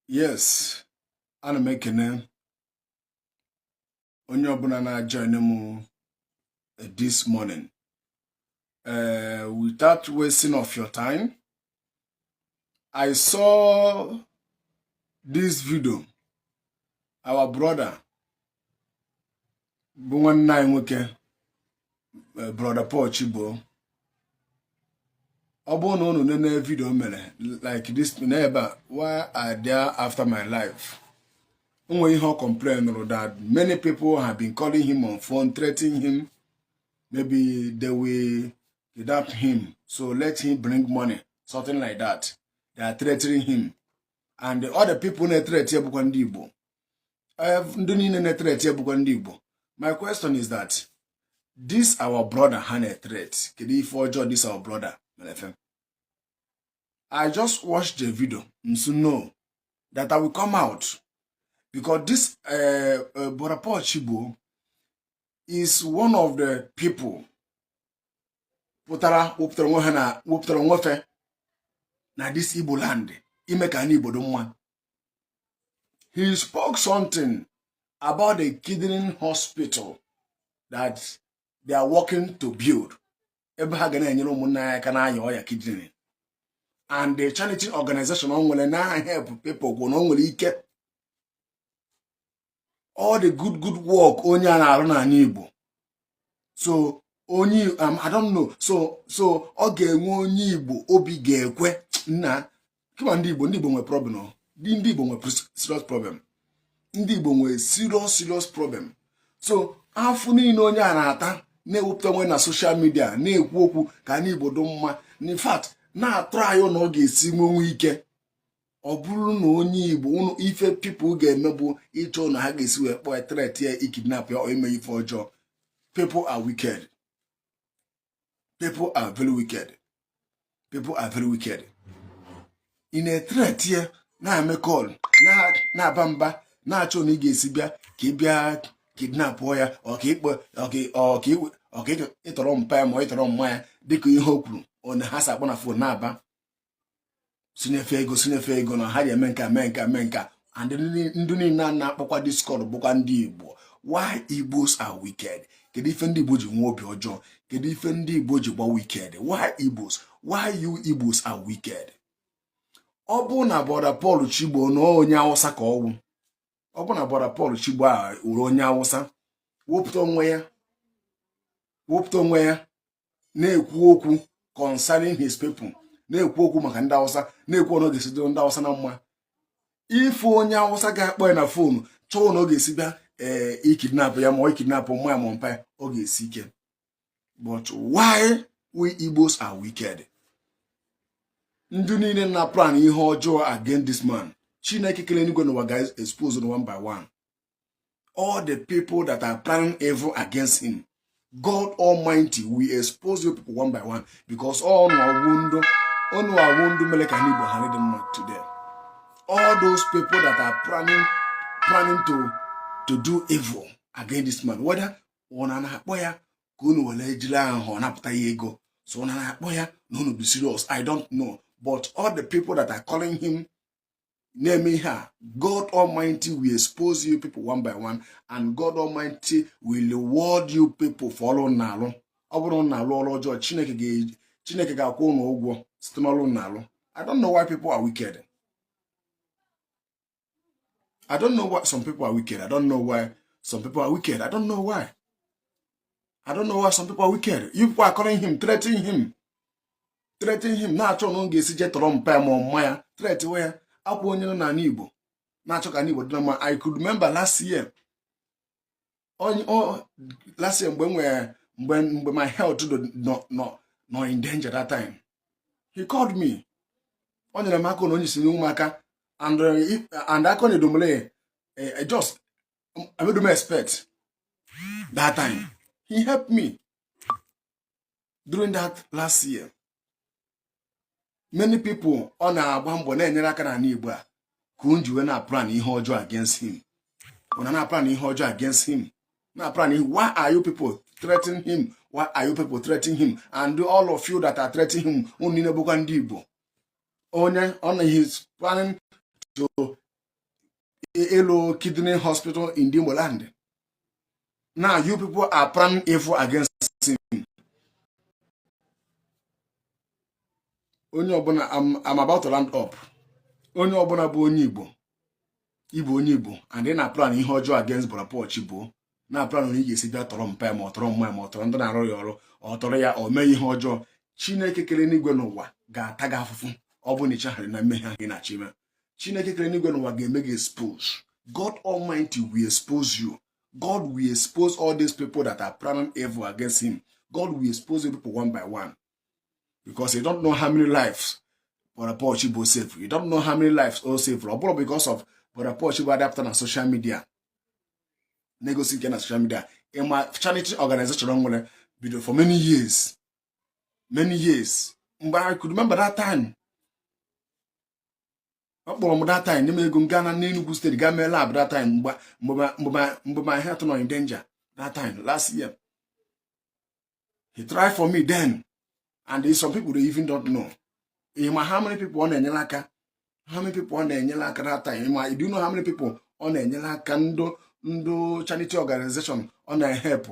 yes ana m ekene onye ọbụla na-ajoin m eh, this morning uh, without wasting of your time I saw this video our brother bụ nwanne anyị nwoke eh, brọda Paul Chigbo ọ bụrụ na unu nene video o mere like this n'ebe a why are they after my life o nwere ihe ọ complainụrụ that many people have been calling him on phone threatening him maybe they will kidnap him so let him bring money something like that they are threatening him and all the people na-etreti bụkwa ndị Igbo eh, ndị niile na-etreti e bụkwa ndị Igbo my question is that this our brother ha na-etreti kedu ife ọjọọ this our brother mere fe I just watched the video m sị no that I will come out because this uh, eh, uh, eh, brọda Paul Chigbo is one of the people pụtara wepụtara onwe fe na this Igbo land ime ka anị Igbo dụ mma he spoke something about the kidney hospital that they are working to build ebe ha ga na-enyere ụmụnna anyị aka na-aya ọya kidney and the charity organization o nwere na-ahelp people gwụ na o nwere ike all the good good work onye a na-arụ n'anị Igbo so onye um, I don't know so so ọ ga-enwe onye Igbo obi ga-ekwe nna kama ndị Igbo ndị Igbo nwere problem ndị Igbo nwere serious problem ndị Igbo nwere serious serious problem so afụfụ niile onye a na-ata na-ewepụta onwe na social media na-ekwu okwu ka anị Igbo dị mma in fact na-atraị na ọ ga-esi nwenwe ike ọ bụrụ na onye igbo ụnụ ife people ga-eme bụ ịchọ ụnụ ha ga-esi wee kpọọ tret ya ikidnap ya ime ife ọjọọ people are wicked people are very wicked people are very wicked ị na-etret ya na-eme call na-aba mba na-achọ na ị ga-esi bịa ka ị bịa kidnapụọ ya ọ ka ịtọrọ mpa ya ma ọ ịtọrọ mma ya dịka ihe o kwuru na ha si akpọ na phone na-aba sinye fe ego sinye fe ego na ha ji eme nkaa mee nkaa mee nkaa and ndị niile a na-akpọkwa this call bụkwa ndị igbo why igbos are wicked kedu ife ndị igbo ji nwee obi ọjọọ kedu ife ndị igbo ji gba wicked why igbos why you igbos are wicked ọ bụrụ na brọda Paul Chigbo na onye awụsa ka ọ wụ ọ bụrụ na brọda Paul Chigbo awụrụ onye awụsa wepụta onwe ya wepụta onwe ya na-ekwu okwu concerning his people na-ekwu okwu maka ndị awụsa na-ekwu ọnụ ọ ga-esi dịrị ndị awụsa na mma ịfụ onye awụsa ga-akpọ ya na fonu chọọ na ọ ga-esi bịa ee eh, ikidnapụ ya ma ọ ikidnapụ mma ya ma mpa ya ọ ga-esi ike but why we Igbos are wicked ndị niile na-aplan ihe ọjọọ against this man chineke kele enigwe n'ụwa ga expose one by one all the people that are planning evil against him god almighty will expose you people one by one because ọ unu wụ ndị ọ unu wụ ndị mere ka anị igbo ghara dị mma today all those people that are planning planning to to do evil against this man whether unu na-akpọ ya ka unu were jiri aghụghọ napụta ya ego so unu na-akpọ ya na unu bụ serious i don't know but all the people that are calling him na-eme ihe a god almighty will expose you people one by one and god almighty will reward you people for ọrụ unu na-alụ ọ bụrụ unu na-alụ ọrụ ọjọọ chineke ga-eji chineke ga-akwụ unu ụgwọ site n'ọrụ unu na-alụ i don't know why people are wicked i don't know why some people are wicked i don't know why some people are wicked i don't know why i don't know why some people are wicked you people are calling him threatening him threaten him na-achọ na ọ ga-esi je tọrọ mpa ya ma ọ mma ya threat we ya ọkwa onye nọ n'anị Igbo na-achọ ka anị Igbo dị na mma I could remember last year onye last year mgbe m nwere mgbe mgbe my health nọ in danger that time he called me o nyere m aka na onye si nye m aka and uh, aka na edomole eh, eh, just I don't expect that time he helped me during that last year many people ọ na-agba mbọ na-enyere aka n'anị Igbo a ka unu ji wee na-aplan ihe ọjọọ against him unu na-aplan ihe ọjọọ against him na-aplan ihe why are you people threatening him why are you people threatening him and all of you that are threatening him unu niile bụkwa ndị Igbo onye ọ na he's planning to ịlụ kidney hospital in Igbo land now you people are planning evil against him onye ọbụla I'm about to round up onye ọbụla bụ onye Igbo ị bụ onye Igbo and ị na-aplan ihe ọjọọ against Brother Paul Chibuo na-aplan otu ị ga-esi bịa tọrọ mpa ma ọ tọrọ mma ma ọ tọrọ ndị na-arụ ya ọrụ or tọrọ ya or mee ihe ọjọọ Chineke kere enuigwe na ụwa ga-ata gị afụfụ ọ bụrụ na i chegharịghị na mmehie ahụ ị na-achọ ime chineke kere n'igwe n'ụwa ga-eme gị expose god almighty will expose you god will expose all these people that are planning evil against him god will expose you people one by one because you don't know how many lives brother paul chibo save you don't know how many lives all save ọ bụrụ because of brother paul chibo adapter na social media na-egosi nke na social media ịma charity organization nwere bido for many years many years mgbe I could remember that time ọ kpọrọ m that time nye m ego m gaa na n'Enugu State gaa mee lab that time mgbe my health nọ in danger that time last year he tried for me then and some people they even don't know ị ma how many people ọ na-enyere aka how many people ọ na-enyere aka that time ị ma do you know how many people ọ na-enyere aka ndị ndị charity organization ọ na-ehepụ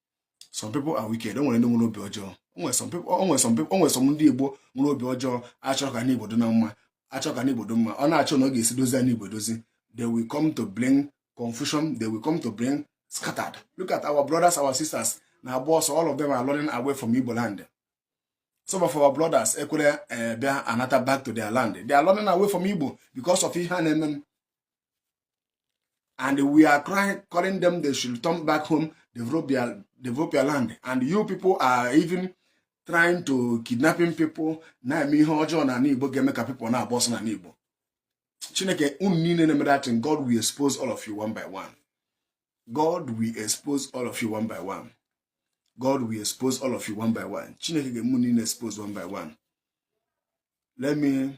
some people are wicked o nwere ndị nwere obi ọjọọ o nwe some people o nwe some people o nwe some ndị Igbo nwere obi ọjọọ a chọọ ka anị Igbo dị na mma a chọọ ka anị Igbo dị mma ọ na-achọ na ọ ga-esi dozie anị Igbo dozi they will come to bring confusion they will come to bring scattered look at our brothers our sisters na-agba ọsọ all of them are running away from Igbo land some of our brothers ekwere eh, bịa anata back to their land they are running away from Igbo because of ihe a na-eme and we are crying, calling them they should turn back home, develop their, develop their land. And you people are even trying to kidnapping people na-eme ihe ọjọọ na Igbo ga-eme ka people na-agba ọsọ na Igbo Chineke unu niile na-eme that thing God will expose all of you one by one God will expose all of you one by one God will expose all of you one by one Chineke ga-eme niile expose one by one let me